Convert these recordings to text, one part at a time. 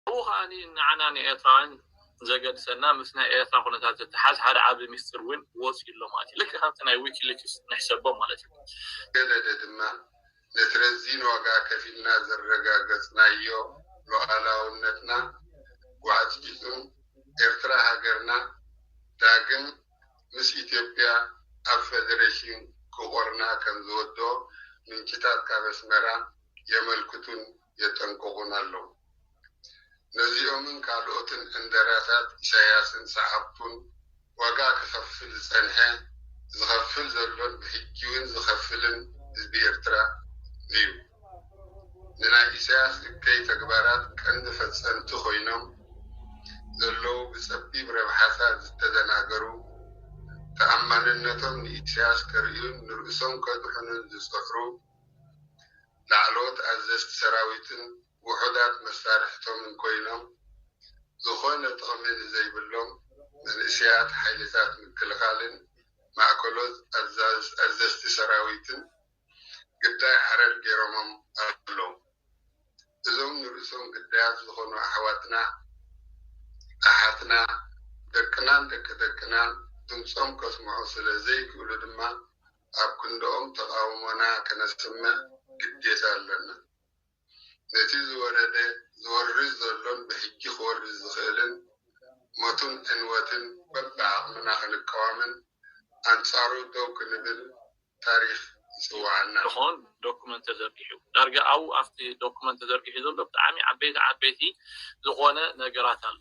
ኣብኡ ከኣ ንዓና ንኤርትራውያን ዘገድሰና ምስ ናይ ኤርትራ ኩነታት ዝተሓዝ ሓደ ዓቢ ምስጢር ውን ወጽዩ ኣሎ ማለት እዩ። ልክዕ ከምቲ ናይ ዊኪሊክስ ንሕሰቦ ማለት እዩ። ገለደ ድማ ነቲ ረዚን ዋጋ ከፊልና ዘረጋገጽናዮ ሉኣላውነትና ጓዕጺጹን ኤርትራ ሃገርና ዳግም ምስ ኢትዮጵያ ኣብ ፈደረሽን ክቖርና ከምዝወደኦ ምንጭታት ካብ ኣስመራ የመልክቱን የጠንቅቑን ኣለዉ። ነዚኦምን ካልኦትን ዕንደራታት ኢሳያስን ሰዓብቱን ዋጋ ክኸፍል ዝጸንሐ፣ ዝኸፍል ዘሎን ብሕጂውን ዝኸፍልን ህዝቢ ኤርትራ እዩ። ንናይ ኢሳያስ እከይ ተግባራት ቀንዲ ፈጸምቲ ኮይኖም ዘለዉ ብጸቢብ ረብሓታት ዝተደናገሩ፣ ተኣማንነቶም ንኢሳያስ ከርእዩን ንርእሶም ከድሕኑን ዝጸዕሩ፣ ላዕለዎት ኣዘዝቲ ሰራዊትን ውሑዳት መሳርሕቶምን ኮይኖም ዝኾነ ጥቕሚ ንዘይብሎም መንእሰያት ሓይልታት ምክልኻልን ማእከሎት ኣዘዝቲ ሰራዊትን ግዳይ ሓረር ጌሮሞም ኣለዉ። እዞም ንርእሶም ግዳያት ዝኾኑ ኣሕዋትና ኣሓትና ደቅናን ደቂ ደቅናን ድምጾም ከስምዑ ስለ ዘይክእሉ ድማ፣ ኣብ ክንድኦም ተቓውሞና ከነስምዕ ግዴታ ኣሎና። ነቲ ዝወረደ፣ ዝወርድ ዘሎን ብሕጂ ክወርድ ዝኽእልን ሞትን ዕንወትን በብዓቕምና ክንቃወምን ኣንጻሩ ደው ክንብል ታሪኽ ይጽውዓና። ዝኾን ዶኩመንት ተዘርጊሑ ዳርጋ ኣብኡ ኣብቲ ዶኩመንት ተዘርጊሑ ዘሎ ብጣዕሚ ዓበይቲ ዓበይቲ ዝኾነ ነገራት ኣሎ።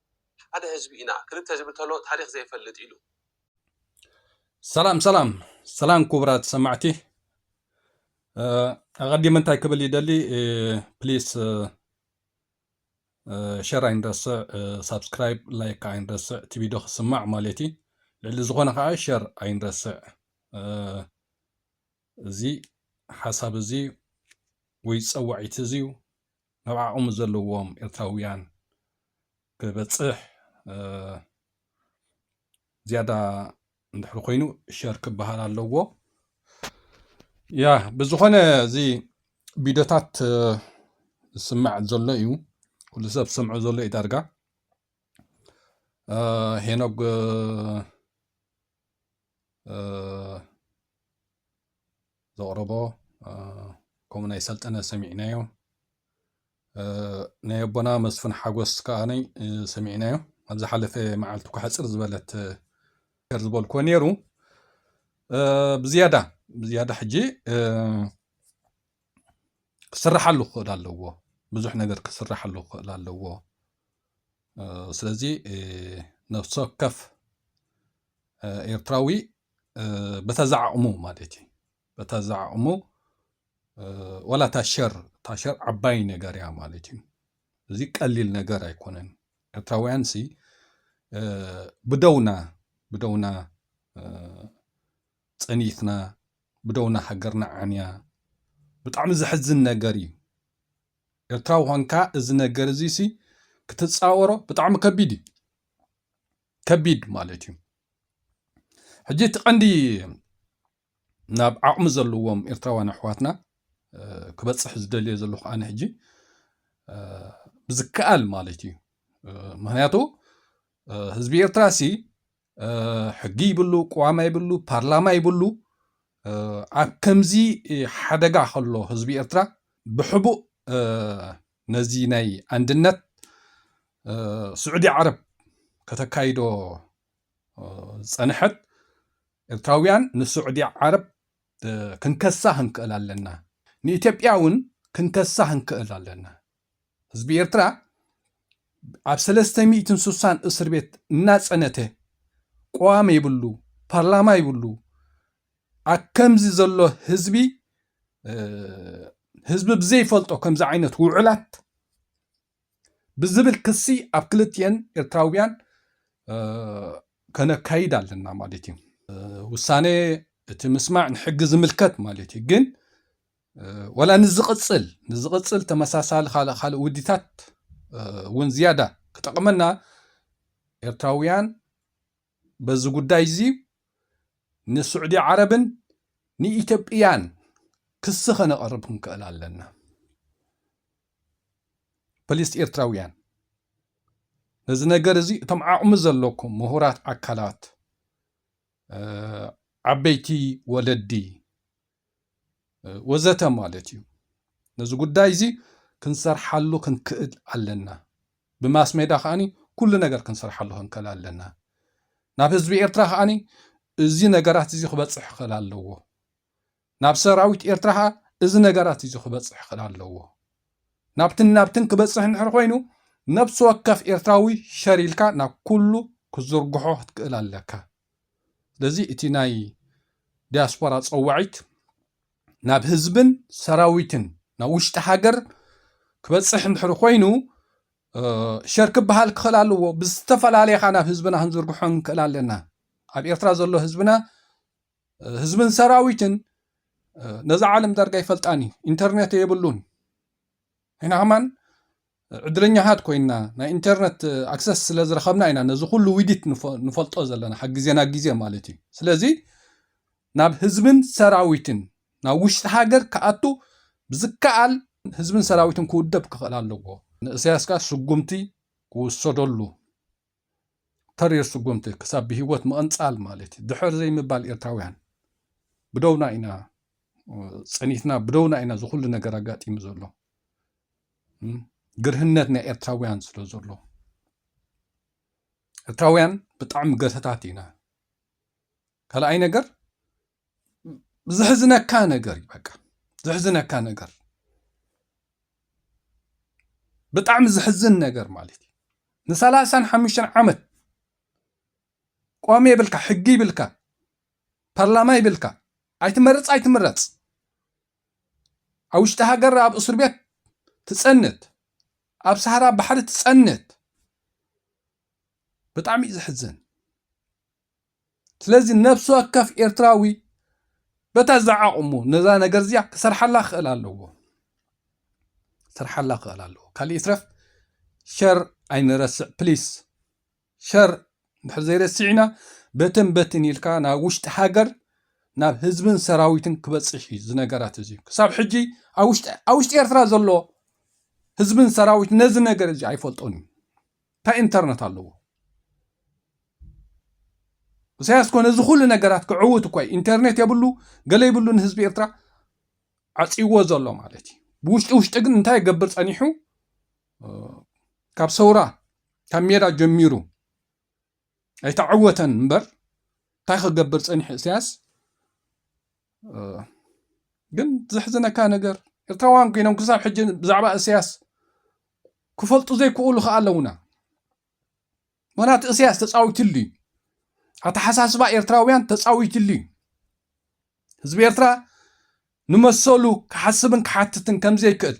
ሓደ ህዝቢ ኢና ክልተ ዝብል ተሎ ታሪኽ ዘይፈልጥ ኢሉ። ሰላም ሰላም ሰላም ክቡራት ሰማዕቲ ኣቐዲመ እንታይ ክብል ይደሊ ፕሊስ ሸር ኣይንረስዕ ሳብስክራይብ ላይክ ከዓ ኣይንረስዕ እቲ ቪድዮ ክስማዕ ማለት እዩ ልዕሊ ዝኾነ ከዓ ሸር ኣይንረስዕ እዚ ሓሳብ እዚ ወይ ፀዋዒት እዚ እዩ ናብ ዓቕሚ ዘለዎም ኤርትራውያን ክበጽሕ ዝያዳ እንድሕሪ ኮይኑ ሸር ክበሃል ኣለዎ ያ ብዝኾነ እዚ ቪድዮታት ዝስማዕ ዘሎ እዩ ኩሉ ሰብ ዝሰምዖ ዘሎ እዩ ዳርጋ ሄኖግ ዘቕረቦ ከምኡ ናይ ሰልጠነ ሰሚዕናዮ ናይ ኣቦና መስፍን ሓጎስ ከኣ ሰሚዕናዮ ኣብ ዝሓለፈ መዓልቲ እኳ ሕፅር ዝበለት ከር ዝበልክዎ ነይሩ ብዝያዳ ብዝያዳ ሕጂ ክስራሓሉ ክኽእል ኣለዎ ብዙሕ ነገር ክስራሓሉ ክኽእል ኣለዎ ስለዚ ነፍሲ ወከፍ ኤርትራዊ በታ ዝዓቕሙ ማለት እዩ በታ ዝዓቕሙ ዋላ እታ ሸር እታ ሸር ዓባይ ነገር እያ ማለት እዩ እዚ ቀሊል ነገር ኣይኮነን ኤርትራውያን ሲ ብደውና ብደውና ፀኒትና ብደውና ሃገርና ዓንያ ብጣዕሚ ዘሕዝን ነገር እዩ ኤርትራዊ ኮንካ እዚ ነገር እዚ ሲ ክትፃወሮ ብጣዕሚ ከቢድ እዩ ከቢድ ማለት እዩ ሕጂ እቲ ቀንዲ ናብ ዓቕሚ ዘለዎም ኤርትራውያን ኣሕዋትና ክበፅሕ ዝደልዮ ዘለኹ ኣነ ሕጂ ብዝከኣል ማለት እዩ ምክንያቱ ህዝቢ ኤርትራ ሲ ሕጊ ይብሉ ቅዋማ ይብሉ ፓርላማ ይብሉ ኣብ ከምዚ ሓደጋ ከሎ ህዝቢ ኤርትራ ብሕቡእ ነዚ ናይ ኣንድነት ስዑዲ ዓረብ ከተካይዶ ዝጸንሐት ኤርትራውያን ንስዑዲ ዓረብ ክንከሳ ክንክእል ኣለና፣ ንኢትዮጵያ እውን ክንከሳ ክንክእል ኣለና። ህዝቢ ኤርትራ ኣብ ሰለስተ ሚእትን ሱሳን እስርቤት እናጸነተ፣ ቅዋም የብሉ፣ ፓርላማ ይብሉ፣ ኣከምዚ ዘሎ ህዝቢ ህዝቢ ብዘይፈልጦ ከምዚ ዓይነት ውዕላት ብዝብል ክሲ ኣብ ክልትኤን ኤርትራውያን ከነካይድ ኣለና ማለት እዩ ውሳነ እቲ ምስማዕ ንሕጊ ዝምልከት ማለት እዩ ግን ወላ ንዝቕፅል ንዝቕፅል ተመሳሳሊ ካልእ ካልእ ውዲታት እውን ዝያዳ ክጠቕመና ኤርትራውያን በዚ ጉዳይ እዚ ንስዑዲ ዓረብን ንኢትዮጵያን ክሲ ከነቐርብ ክንክእል ኣለና። ፕሊስ ኤርትራውያን ነዚ ነገር እዚ እቶም ዓቕሚ ዘለኩም ምሁራት ኣካላት ዓበይቲ ወለዲ ወዘተ ማለት እዩ። ነዚ ጉዳይ እዚ ክንሰርሓሉ ክንክእል ኣለና። ብማስ ሜዳ ከኣ ኩሉ ነገር ክንሰርሓሉ ክንክእል ኣለና። ናብ ህዝቢ ኤርትራ ከኣ እዚ ነገራት እዚ ክበጽሕ ክእል ኣለዎ። ናብ ሰራዊት ኤርትራ ከኣ እዚ ነገራት እዚ ክበጽሕ ክእል ኣለዎ። ናብትን ናብትን ክበጽሕ እንድሕር ኮይኑ ነብሲ ወከፍ ኤርትራዊ ሸር ኢልካ ናብ ኩሉ ክትዝርግሖ ክትክእል ኣለካ። ስለዚ እቲ ናይ ዲያስፖራ ጸዋዒት ናብ ህዝብን ሰራዊትን ናብ ውሽጢ ሃገር ክበጽሕ እንድሕር ኮይኑ ሸር ክበሃል ክኽእል ኣለዎ ብዝተፈላለየ ኻ ናብ ህዝብና ክንዝርግሖ ንክእል ኣለና ኣብ ኤርትራ ዘሎ ህዝብና ህዝብን ሰራዊትን ነዛ ዓለም ዳርጋ ይፈልጣን እዩ ኢንተርኔት የብሉን ኢና ኸማን ዕድለኛታት ኮይንና ናይ ኢንተርነት ኣክሰስ ስለ ዝረኸብና ኢና ነዚ ኩሉ ዊዲት ንፈልጦ ዘለና ካብ ግዜ ናብ ግዜ ማለት እዩ ስለዚ ናብ ህዝብን ሰራዊትን ናብ ውሽጢ ሃገር ክኣቱ ብዝከኣል ህዝብን ሰራዊትን ክውደብ ክኽእል ኣለዎ ንእሰያስ ከኣ ስጉምቲ ክውሰደሉ ተሪር ስጉምቲ ክሳብ ብሂወት ምቕንጻል ማለት እዩ ድሕር ዘይምባል ኤርትራውያን ብደውና ኢና ጸኒትና ብደውና ኢና ዝኹሉ ነገር ኣጋጢሙ ዘሎ ግርህነት ናይ ኤርትራውያን ስለ ዘሎ ኤርትራውያን ብጣዕሚ ገተታት ኢና ካልኣይ ነገር ዝሕዝነካ ነገር እዩ በቃ ዝሕዝነካ ነገር ብጣዕሚ ዝሕዝን ነገር ማለት እዩ ንሰላሳን ሓሙሽተን ዓመት ቆሜ ይብልካ ሕጊ ይብልካ ፓርላማ ይብልካ ኣይትመርፅ ኣይትምረፅ ኣብ ውሽጢ ሃገር ኣብ እስር ቤት ትፀንት ኣብ ሰሃራ ባሕሪ ትፀንት ብጣዕሚ እዩ ዘሕዝን ስለዚ ነብሲ ወከፍ ኤርትራዊ በታ ዝዓቕሙ ነዛ ነገር እዚኣ ክሰርሓላ ክኽእል ኣለዎ ክሰርሓላ ክኽእል ኣለዎ ካልእ ይትረፍ ሸር ኣይንረስዕ ፕሊስ ሸር ድሕር ዘይረሲዕና በተን በትን ኢልካ ናብ ውሽጢ ሃገር ናብ ህዝብን ሰራዊትን ክበፅሕ እዩ እዚ ነገራት እዚ ክሳብ ሕጂ ኣብ ውሽጢ ኤርትራ ዘሎ ህዝብን ሰራዊት ነዚ ነገር እዚ ኣይፈልጦን እዩ ታይ እንተርነት ኣለዎ እሳያስ ኮነ እዚ ኩሉ ነገራት ክዕውት እኳ እዩ ኢንተርኔት የብሉ ገለ ይብሉ ንህዝቢ ኤርትራ ዓፅይዎ ዘሎ ማለት እዩ ብውሽጢ ውሽጢ ግን እንታይ ይገብር ፀኒሑ ካብ ሰውራ ካብ ሜዳ ጀሚሩ ኣይተዓወተን እምበር እንታይ ክገብር ፀኒሑ እሳያስ ግን ዘሕዝነካ ነገር ኤርትራውያን ኮይኖም ክሳብ ሕጂ ብዛዕባ እስያስ ክፈልጡ ዘይክእሉ ከዓ ኣለውና ምክንያቱ እስያስ ተፃዊትሉ እዩ ኣተሓሳስባ ኤርትራውያን ተፃዊትሉ እዩ ህዝቢ ኤርትራ ንመሰሉ ክሓስብን ክሓትትን ከምዘይክእል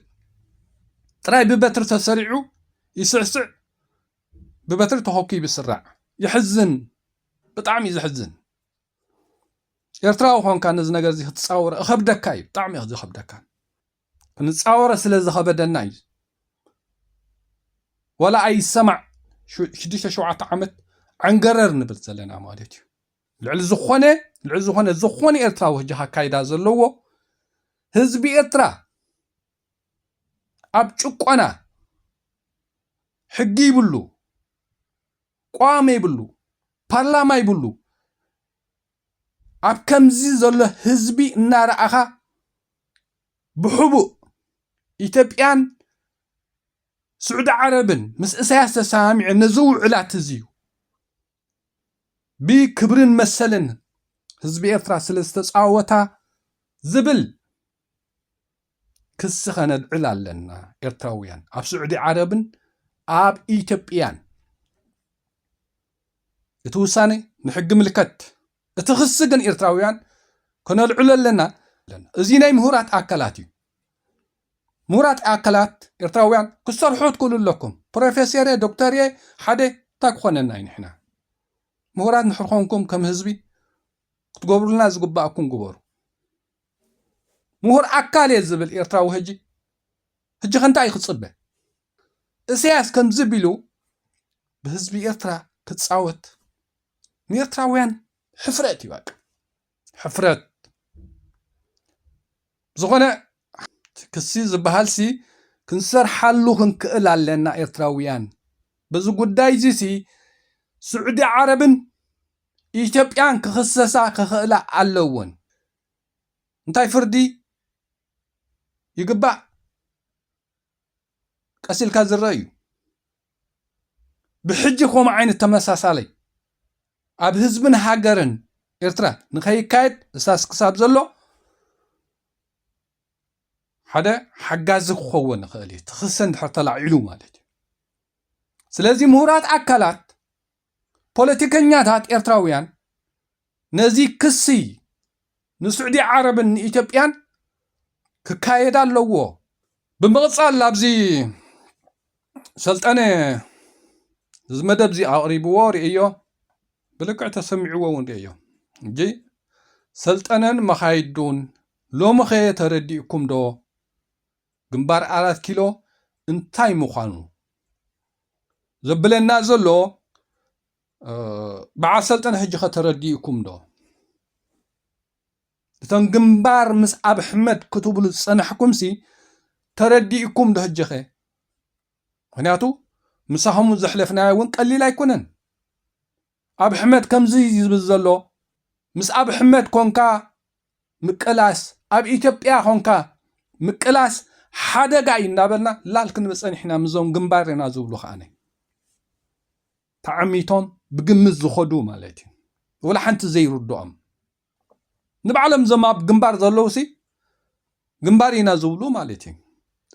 ጥራይ ብበትሪ ተሰሪዑ ይስዕስዕ ብበትሪ ተኾኪቡ ይስራዕ የሕዝን ብጣዕሚ እዩ ዘሕዝን ኤርትራዊ ኮንካ ነዚ ነገር እዚ ክትፃወሮ እኸብደካ እዩ ብጣዕሚ እዩ ዝኸብደካ ክንፃወሮ ስለ ዝኸበደና እዩ ወላ ኣይሰማዕ ሽዱሽተ ሸውዓተ ዓመት ዓንገረር ንብል ዘለና ማለት እዩ ልዕሊ ዝኾነ ልዕሊ ዝኾነ ዝኾነ ኤርትራዊ ሕጂ ካካይዳ ዘለዎ ህዝቢ ኤርትራ ኣብ ጭቆና ሕጊ ይብሉ ቆዋሚ ይብሉ ፓርላማ ይብሉ ኣብ ከምዚ ዘሎ ህዝቢ እናረኣኻ ብሕቡእ ኢትዮጵያን ስዑዲ ዓረብን ምስ እሳያስ ተሰማሚዐን ነዚ ውዕላት እዚ እዩ ብክብርን መሰልን ህዝቢ ኤርትራ ስለ ዝተጻወታ ዝብል ክሲ ከነልዕል ኣለና ኤርትራውያን ኣብ ስዑዲ ዓረብን ኣብ ኢትዮጵያን እቲ ውሳኔ ንሕጊ ምልከት እቲ ክሲ ግን ኤርትራውያን ከነልዕሎ ኣለና እዚ ናይ ምሁራት ኣካላት እዩ ምሁራት ኣካላት ኤርትራውያን ክሰርሑ ትክእሉ ኣለኩም ፕሮፌሰር ዶክተር እየ ሓደ እንታይ ክኾነና እዩ ንሕና ምሁራት ንሕርኮንኩም ከም ህዝቢ ክትገብሩልና ዝግባኣኩም ግበሩ ምሁር ኣካል እየ ዝብል ኤርትራዊ ህጂ ህጂ ከንታይ ክጽበ እሰያስ ከምዚ ቢሉ ብህዝቢ ኤርትራ ክጻወት ንኤርትራውያን ሕፍረት እዩ በቃ ሕፍረት ዝኾነ ክሲ ዝበሃልሲ ክንሰርሓሉ ክንክእል ኣለና ኤርትራውያን በዚ ጉዳይ እዚ ሲ ስዑዲ ዓረብን ኢትዮጵያን ክኽሰሳ ክኽእላ ኣለወን። እንታይ ፍርዲ ይግባእ ቀስ ኢልካ ዝረአ እዩ። ብሕጂ ከምኡ ዓይነት ተመሳሳለይ ኣብ ህዝብን ሃገርን ኤርትራ ንኸይካየድ እሳስ ክሳብ ዘሎ ሓደ ሓጋዚ ክኸውን ይኽእል እዩ ትኽሰ እንድሕር ተላዒሉ ማለት እዩ ስለዚ ምሁራት ኣካላት ፖለቲከኛታት ኤርትራውያን ነዚ ክሲ ንስዑዲ ዓረብን ንኢትዮጵያን ክካየድ ኣለዎ። ብምቕጻል ኣብዚ ሰልጠነ እዚ መደብ እዚ ኣቕሪብዎ ርእዮ ብልክዕ ተሰሚዕዎ እውን ርእዮ እጂ ሰልጠነን መኻይዱን ሎምኸ ተረዲእኩም ዶ ግንባር ኣራት ኪሎ እንታይ ምዃኑ ዘብለና ዘሎ በዓል ሰልጠነ ሕጂኸ ተረዲኡኩም ዶ? እቶም ግንባር ምስ ኣብ ኣሕመድ ክትብሉ ዝፀናሕኩምሲ ተረዲኡኩም ዶ ሕጂኸ? ምክንያቱ ምሳኹም ዘሕለፍናዮ እውን ቀሊል ኣይኮነን። ኣብ ሕመት ከምዚ ዝብል ዘሎ ምስ ኣብ ሕመት ኮንካ ምቅላስ ኣብ ኢትዮጵያ ኮንካ ምቅላስ ሓደጋ እዩ እንዳበልና ላል ክንብል ጸኒሕና ምዞም ግንባር ኢና ዝብሉ ከኣ ተዓሚቶም ብግምት ዝኸዱ ማለት እዩ ወላ ሓንቲ ዘይርድኦም ንባዕሎም ዞም ኣብ ግንባር ዘለውሲ ግንባር ኢና ዝብሉ ማለት እዩ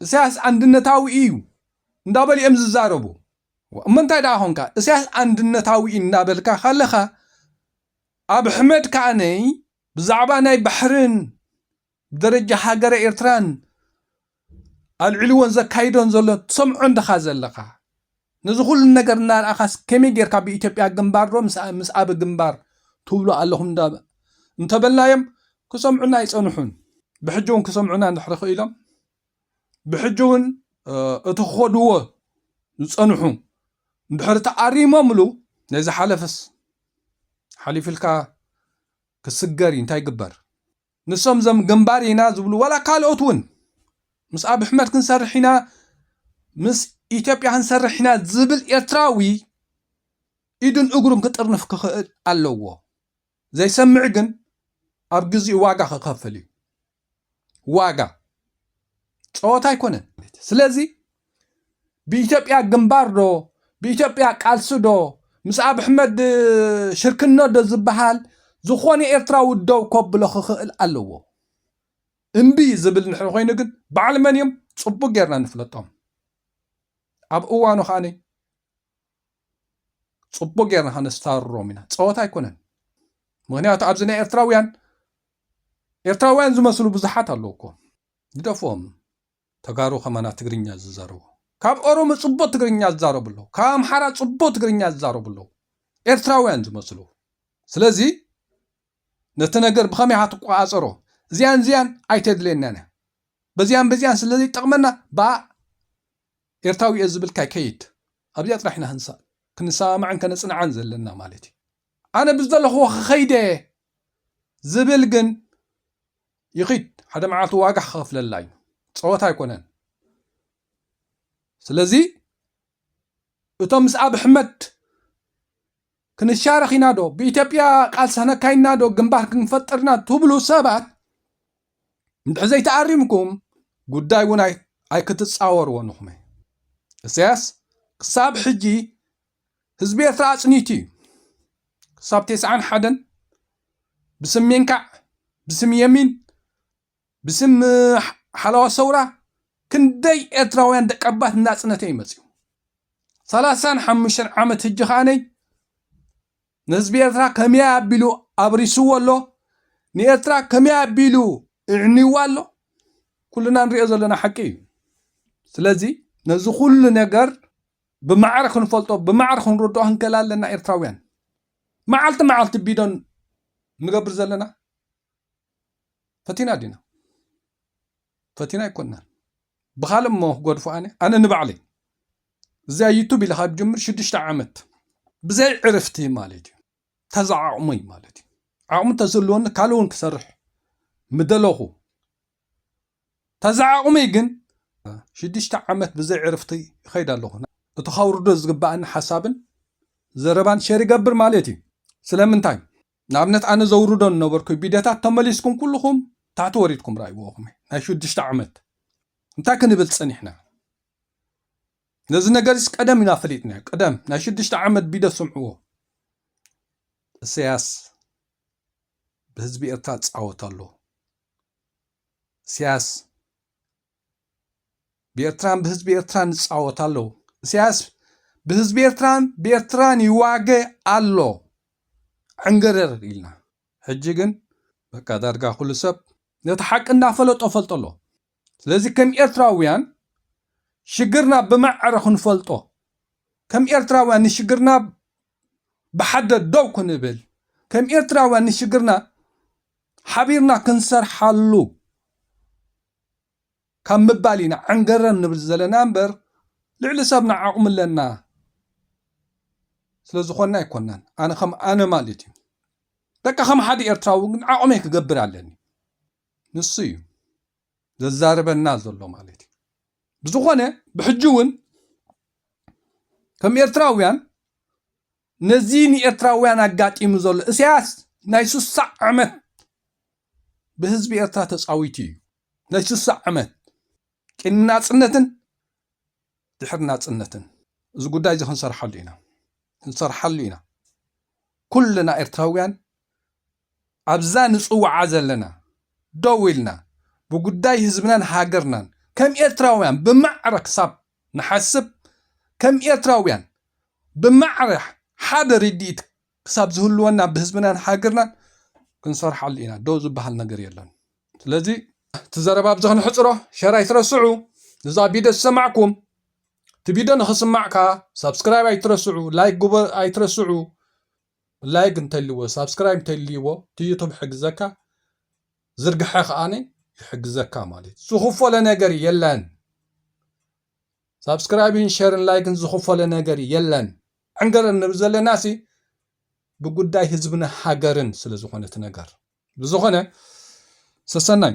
እሳያስ ኣንድነታዊ እዩ እንዳበሉ እዮም ዝዛረቡ እሞ እንታይ ደኣ ኮንካ እሰያስ ኣንድነታዊ እዩ እናበልካ ካለኻ ኣብሕመድ ከኣነ ብዛዕባ ናይ ባሕርን ብደረጃ ሃገረ ኤርትራን ኣልዒልዎን ዘካይዶን ዘሎን ትሰምዖን ድኻ ዘለኻ ነዚ ኩሉ ነገር እናርኣኻስ ከመይ ጌርካ ብኢትዮጵያ ግንባር ዶ ምስ ኣበ ግንባር ትብሉ ኣለኹም እንዳ እንተበልናዮም ክሰምዑና ኣይጸንሑን ብሕጂ እውን ክሰምዑና እንድሕሪ ክኢሎም ብሕጂ እውን እቲ ክኸድዎ ዝፀንሑ እንድሕር ተኣሪሞምሉ ናይ ዝሓለፈስ ሓሊፍልካ ክስገር እዩ እንታይ ግበር ንሶም ዘም ግንባር ኢና ዝብሉ ዋላ ካልኦት እውን ምስ ኣብ ኣሕመድ ክንሰርሕ ኢና ምስ ኢትዮጵያ ክንሰርሕ ኢና ዝብል ኤርትራዊ ኢዱን እግሩን ክጥርንፍ ክኽእል ኣለዎ ዘይሰምዕ ግን ኣብ ግዚኡ ዋጋ ክኸፍል እዩ ዋጋ ፀወታ ኣይኮነን። ስለዚ ብኢትዮጵያ ግንባር ዶ ብኢትዮጵያ ቃልሲ ዶ ምስ ኣብ ኣሕመድ ሽርክኖ ዶ ዝበሃል ዝኾነ ኤርትራዊ ደው ከብሎ ክኽእል ኣለዎ። እምቢ ዝብል ንሕሪ ኮይኑ ግን በዓል መን እዮም ፅቡቅ ጌርና ንፍለጦም ኣብ እዋኑ ከዓኒ ፅቡቅ ጌርና ከነስታርሮም ኢና ፀወታ ኣይኮነን ምክንያቱ ኣብዚ ናይ ኤርትራውያን ኤርትራውያን ዝመስሉ ብዙሓት ኣለዉ እኮ ግደፎም ተጋሩ ከማና ትግርኛ ዝዛረቡ ካብ ኦሮሞ ፅቡቅ ትግርኛ ዝዛረቡ ኣለዉ ካብ ኣምሓራ ፅቡቅ ትግርኛ ዝዛረቡ ኣለዉ ኤርትራውያን ዝመስሉ ስለዚ ነቲ ነገር ብኸመይ ኢኻ ትቆፃፀሮ እዚያን እዚያን ኣይተድልየናን እያ በዚያን በዚያን ስለዘይጠቕመና ብኣ ኤርታዊ እየ ዝብል ካይ ከይድ ኣብዚኣ ጥራሕ ኢና ክንሳእ ክንሰማማዕን ከነጽንዓን ዘለና ማለት እዩ ኣነ ብዝደለኽዎ ክኸይድ እየ ዝብል ግን ይኺድ ሓደ መዓልቲ ዋጋ ክኸፍለላ እዩ ጸወታ ኣይኮነን ስለዚ እቶም ምስ ኣብ ኣሕመድ ክንሻረኽ ኢና ዶ ብኢትዮጵያ ቃልሲ ከነካይና ዶ ግንባር ክንፈጥርና ትብሉ ሰባት እንድሕር ዘይተኣሪምኩም ጉዳይ እውን ኣይክትፃወርዎን ኢኹም። እሰያስ ክሳብ ሕጂ ህዝቢ ኤርትራ ኣጽኒቱ እዩ። ክሳብ ቴስዓን ሓደን ብስም ሜንካዕ፣ ብስም የሚን፣ ብስም ሓለዋ ሰውራ ክንደይ ኤርትራውያን ደቀባት እናጽነተ እዩ መጽኡ። ሰላሳን ሓሙሽተን ዓመት ህጂ ከኣነይ ንህዝቢ ኤርትራ ከመይ ኣቢሉ ኣብሪስዎ ኣሎ፣ ንኤርትራ ከመይ ኣቢሉ እዕንይዋ ኣሎ፣ ኩልና ንርእዮ ዘለና ሓቂ እዩ። ስለዚ ነዚ ኩሉ ነገር ብማዕረ ክንፈልጦ፣ ብማዕረ ክንርድኦ ክንክእል ኣለና ኤርትራውያን። መዓልቲ መዓልቲ ቢዶ ንገብር ዘለና ፈቲና ዲና? ፈቲና ኣይኮናን። ብኻልእ እሞ ክገድፎ ኣነ ኣነ ንባዕለይ እዚኣ ዩቱብ ኢለ ካብ ጅምር ሽዱሽተ ዓመት ብዘይ ዕርፍቲ ማለት እዩ ተዛ ዓቕሞይ ማለት እዩ ዓቕሚ ተዝህልወኒ ካልእ እውን ክሰርሕ ምደለኹ ተዛ ዓቕመይ ግን ሽዱሽተ ዓመት ብዘይ ዕርፍቲ ይኸይድ ኣለኹ እቲ ከውርዶ ዝግባኣኒ ሓሳብን ዘረባን ሸር ይገብር ማለት እዩ ስለምንታይ ንኣብነት ኣነ ዘውርዶ ንነበርኩ ቢደታት ተመሊስኩም ኩሉኹም ታሕቲ ወሪድኩም ራእይዎ ኹመይ ናይ ሹዱሽተ ዓመት እንታይ ክንብል ጸኒሕና ነዚ ነገርስ ቀደም ኢና ፈሊጥናዮ ቀደም ናይ ሹዱሽተ ዓመት ቢደ ስምዕዎ እሰያስ ብህዝቢ ኤርትራ ዝጻወት ኣሎ እሰያስ ብኤርትራን ብህዝቢ ኤርትራን ይጻወት ኣሎ ኢሳያስ ብህዝቢ ኤርትራን ብኤርትራን ይዋገ ኣሎ ዕንገረር ኢልና ሕጂ ግን በቃ ዳርጋ ኩሉ ሰብ ነቲ ሓቂ እናፈለጦ ፈልጦ ኣሎ ስለዚ ከም ኤርትራውያን ሽግርና ብመዕረ ክንፈልጦ ከም ኤርትራውያን ንሽግርና ብሓደ ደው ክንብል ከም ኤርትራውያን ንሽግርና ሓቢርና ክንሰርሓሉ ካብ ምባል ኢና ዐንገረር ንብል ዘለና እምበር ልዕሊ ሰብና ዓቕሚ ኣለና ስለ ዝኾንና ኣይኮናን። ኣነ ከም ኣነ ማለት እዩ። በቃ ከም ሓደ ኤርትራዊ ግን ዓቕመይ ክገብር ኣለኒ። ንሱ እዩ ዘዛርበና ዘሎ ማለት እዩ። ብዝኾነ ብሕጂ እውን ከም ኤርትራውያን ነዚ ንኤርትራውያን ኣጋጢሙ ዘሎ እሰያስ ናይ ሱሳ ዕመት ብህዝቢ ኤርትራ ተጻዊቱ እዩ ናይ ሱሳ ዕመት ቅድሚ ናጽነትን ድሕሪ ናጽነትን እዚ ጉዳይ እዚ ክንሰርሓሉ ኢና ክንሰርሓሉ ኢና ኩልና ኤርትራውያን ኣብዛ ንጽውዓ ዘለና ደው ኢልና ብጉዳይ ህዝብናን ሃገርናን ከም ኤርትራውያን ብማዕረ ክሳብ ንሓስብ ከም ኤርትራውያን ብማዕረ ሓደ ርድኢት ክሳብ ዝህልወና ብህዝብናን ሃገርናን ክንሰርሓሉ ኢና ደው ዝብሃል ነገር የሎን ስለዚ እቲ ዘረባ ኣብዚ ክንሕጽሮ ሸር ኣይትረስዑ እዛ ቪድዮ ዝሰማዕኩም እቲ ቪድዮ ንኽስማዕ ከኣ ሳብስክራይብ ኣይትረስዑ ላይክ ግበሩ ኣይትረስዑ ላይግ እንተልይዎ ሳብስክራይብ እንተልይዎ እቲ ዩቱብ ይሕግዘካ ዝርግሐ ከኣ ይሕግዘካ ማለት እዩ ዝኽፈሎ ነገር የለን ሳብስክራይብን ሸርን ላይክን ዝኽፈሎ ነገር የለን ዕንገረር ንብል ዘለና ሲ ብጉዳይ ህዝብን ሃገርን ስለ ዝኾነ እቲ ነገር ብዝኾነ ሰሰናዩ